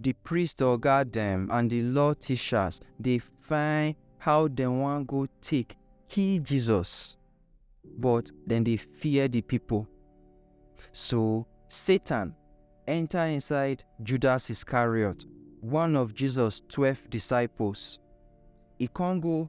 Di priest oga dem and di law tishas dey find how dem wan go take kill Jesus, but dem dey fear di pipo. So, Satan enta inside Judas Iscariot, one of Jesus twelve disciples. E con go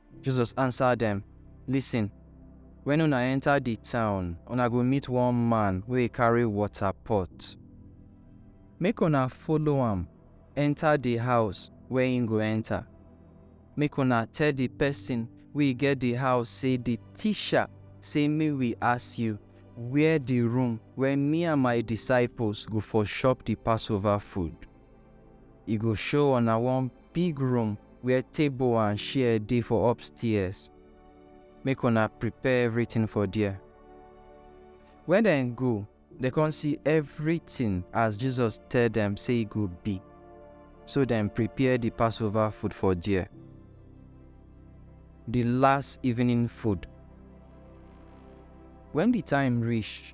Jesus ansa dem, Listen, wen una enta di town, una go meet one man wey carry wota pot. Make una follow am enta di house wey im go enta. Make una tell di pesin wey get di house sey, 'Di Tisha sey make wi ask yu where di room where mi and my disciples go for shop di Passover food. E go show una one. big room where table and chair dey for upstairs, make una prepare everything for there. When dem go, dem come see everything as Jesus tell dem say e go be, so dem prepare the Passover food for there. The last evening food. When the time reach,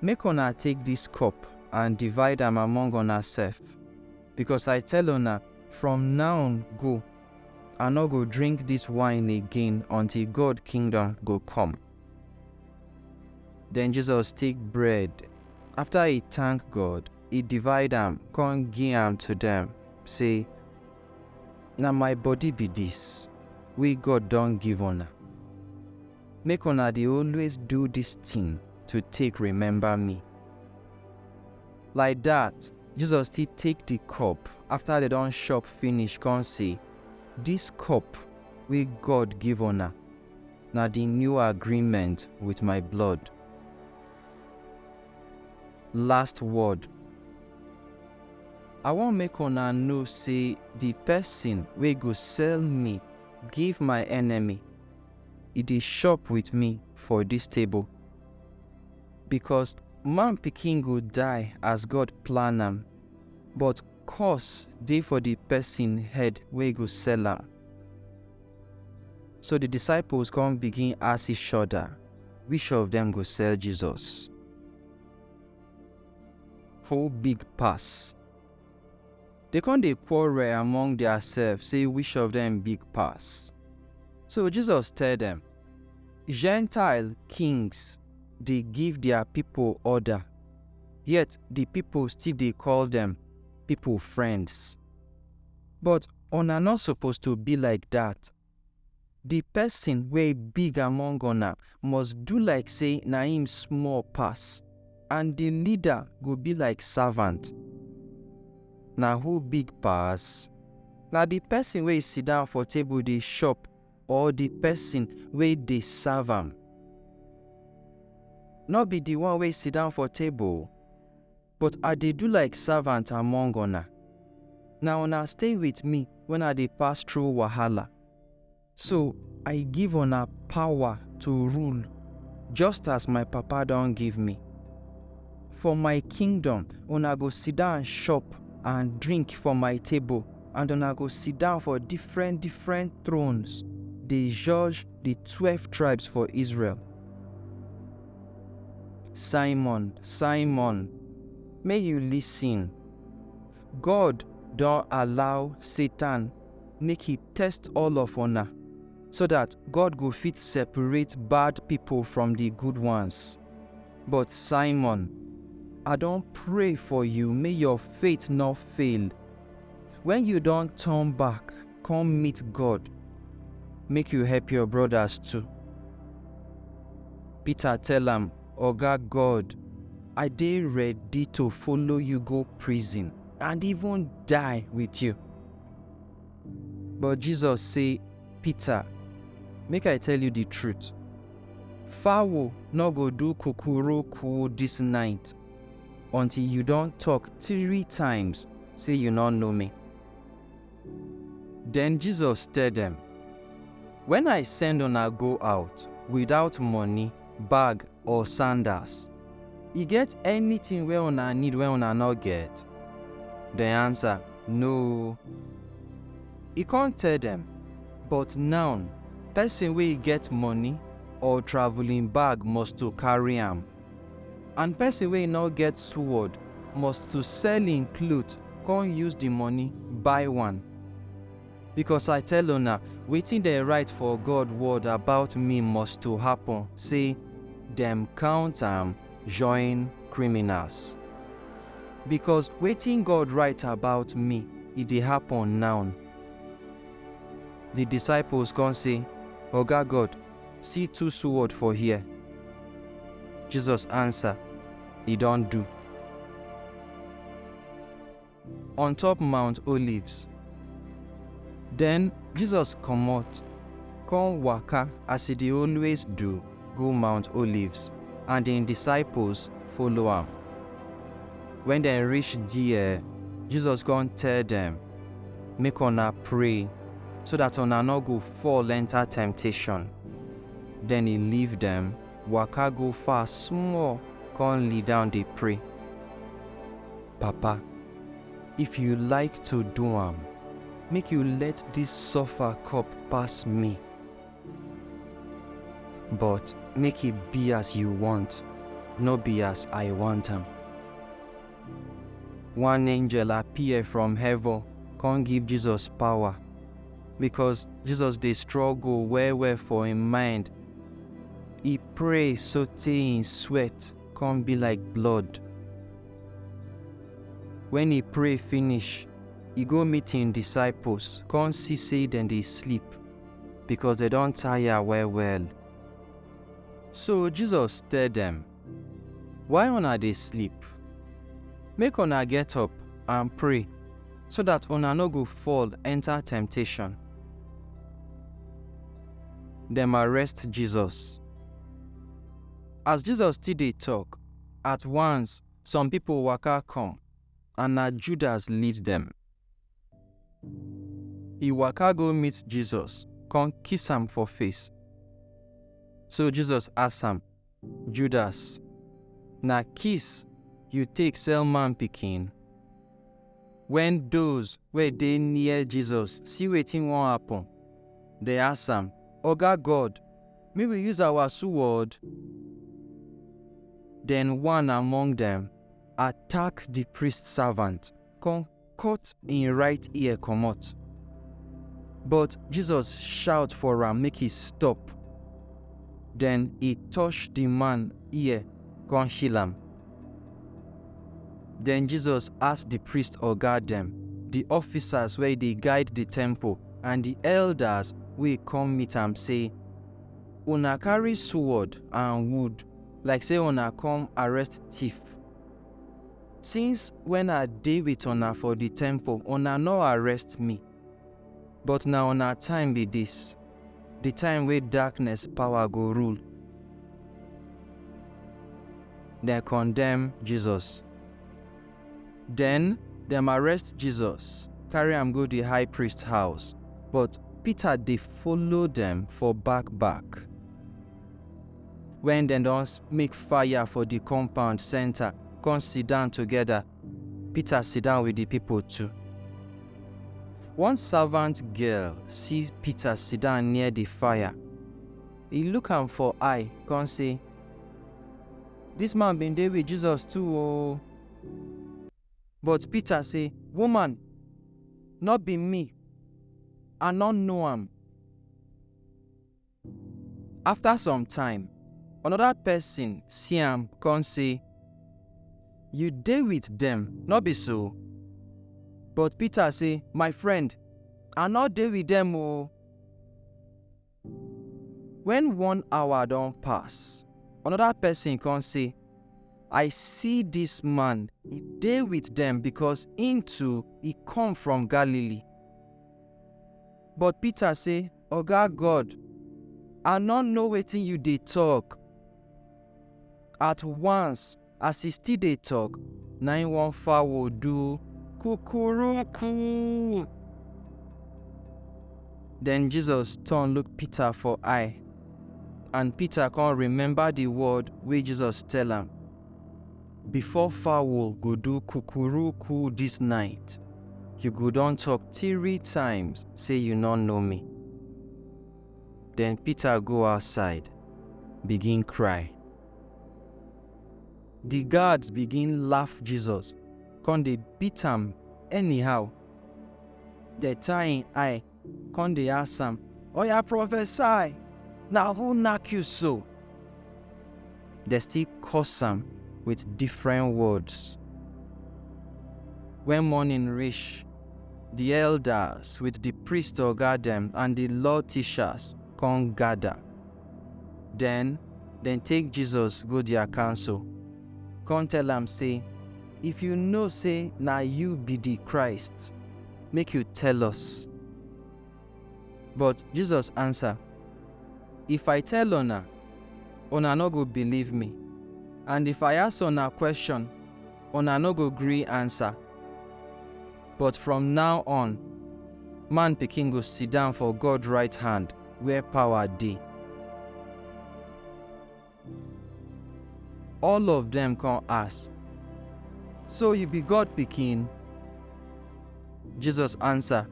Make una take dis cup and divide am among unasef, becos I tell una, from now go, I nor go drink dis wine again until God kingdom go come. Den Jesus take bread, after e tank God, e divide am con gi am to dem, sey, Na my body be dis, wey God don give una. Make una dey always do dis tin to take rememba mi. Like dat, Jesus still take di cup afta dem don shop finish kon sey, Dis cup wey God give una, na di new agreement with my blood. Last word, I won make una know sey di pesin wey go sell mi give my enemy, e dey chop with me for dis table. Because man pikin go die as God plan am, but curse dey for the person head wey go sell am. So the disciples come begin ask each other which of them go sell Jesus. Who big pass? Dey kon dey quarrel among diasef sey wish of dem big pass. So Jesus tell dem, Gentile kings dey give dia pipol orda, yet di pipol still dey call dem pipol friends. But una nor suppose to bi like dat. Di pesin wey big among una must do like sey na im small pass, and di leader go be like savant. Na who big pass? Na di pesin wey sidan for table dey shop or di pesin wey dey serve am? Nor be di one wey sidan for table? But I dey do like servant among una. Na una stay with me when I dey pass through wahala. So I give una power to rule just as my Papa don give me. For my kingdom, una go sit down chop and drink for my table and una go sit down for different different thrones dey judge the twelve tribes for Israel. Simon, Simon, make you listen, God don allow Satan make he test all of una, so that God go fit separate bad people from the good ones. But Simon, I don pray for you make your faith no fail. When you don turn back, come meet God, make you help your brothers too. Peter tell am, Oga God, I dey ready to follow you go prison and even die with you. But Jesus say, Peter, make I tell you the truth. Fowl no go do kukuruku this night until you don talk three times say you no know me. Den Jesus tell dem, Wen I send una go out witout moni, bag or sandals, e get anytin wey una need wey una nor get? Dem ansa, No. E kon tell dem, But naon, pesin wey get moni or travuling bag must to karry am. And pesin wey e nor get suwod must to sell im klot kon use di moni buy one. Bikos I tell una, wetin dem rite for God wod abaut mi must to hapun, sey, Dem kount am join kriminals. Bikos wetin God rite abaut mi, e dey hapun nawn. Di disaipols kon sey, Oga God! See two sword for here. Jesus answer, E don do. On top Mount Olives. Then Jesus comot, come waka as e dey always do go Mount Olives, and im disciples follow am. When dem reach there, Jesus come tell dem, Make una pray so that una no go fall enter temptation. Den e leave dem, waka go far small con lee down dey pray. Papa, if you like to do am, make you let dis suffer cup pass me. But make e be as you want, no be as I want am. One angel appear from heaven con give Jesus power. because Jesus dey struggle well well for im mind. E pray sotey im sweat come be like blood. Wen e pray finish, e go meet im disciples come see sey dem dey sleep because dem don tire well well. So Jesus tell dem, Why una dey sleep? Make una get up and pray, so that una no go fall enter temptation. Dem arrest Jesus. As Jesus still dey talk, at once some people waka come, and na Judas lead dem. He waka go meet Jesus, come kiss am for face. So Jesus ask am, Judas, na kiss you take sell man pikin? Wen doz wey dey near Jesus see wetin won happen, dem ask am, Oga God, make we use awa suwod? Den one among dem attack di priest savant, kon. cut im right ear comot. But Jesus shout for am make e stop. Den e touch di man ear kon heal am. Den Jesus ask di priest oga dem, di officers wey dey guide di temple, and di elders wey kom meet am sey, Una karry sword and wood like sey una kom arrest tiff. Since wen I dey wit una for di temple, una nor arrest mi. But na una time bi dis, di time wey darkness pawa go rule. Dem kondem Jesus. Den, dem arrest Jesus, karry am go di high priest house, but Pita dey follow dem for bak-bak. Wen dem don make fire for di compound senta, kon sidan togeda, Pita sidan wit di pipol tu. One savant girl si Pita sidan near di fire, e luk am for eye kon sey, Dis man bin dey wit Jesus tu o! But Pita sey, Woman, nor bi mi, I nor know am! Afta some time, anoda pesin si am kon sey, Yu dey wit dem, nor bi so? But Pita sey, My frend, I nor dey wit dem o! Wen one hour don pass, anoda pesin kon sey, I si dis man dey wit dem, bikos im too, e kom from Galili. But Pita sey, Oga God, I nor know wetin yu dey tok. At once, as e still dey tok, na im one fowl do kukuruku. Den Jesus turn look Peter for eye, and Peter kon remember di word wey Jesus tell am. Before fowl go do kukuruku this night, you go don talk three times say you no know me. Then Peter go outside, begin cry. The guards begin laugh Jesus, come dey beat am anyhow. Dey tie im eye Come dey ask am, Oya prophesy, na who knack you so? Dem still curse am with different words. When morning reach, the elders with the priest oga dem and the law teachers come gather. Then dem take Jesus go their council, come tell am say, If you know say na you be the Christ, make you tell us. But Jesus answer, If I tell una, una no go believe me, and if I ask una question, una no go gree answer. But from now on, man pikin go sit down for God right hand where power dey. All of dem kon ask, So yu bi God Pikin? Jesus ansa,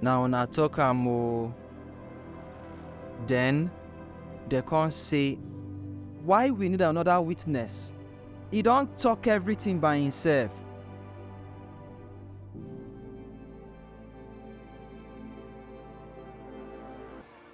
Na una tok am o. Den, dem kon sey, Why wi nid anoda witness? E don tok evritin by imsef!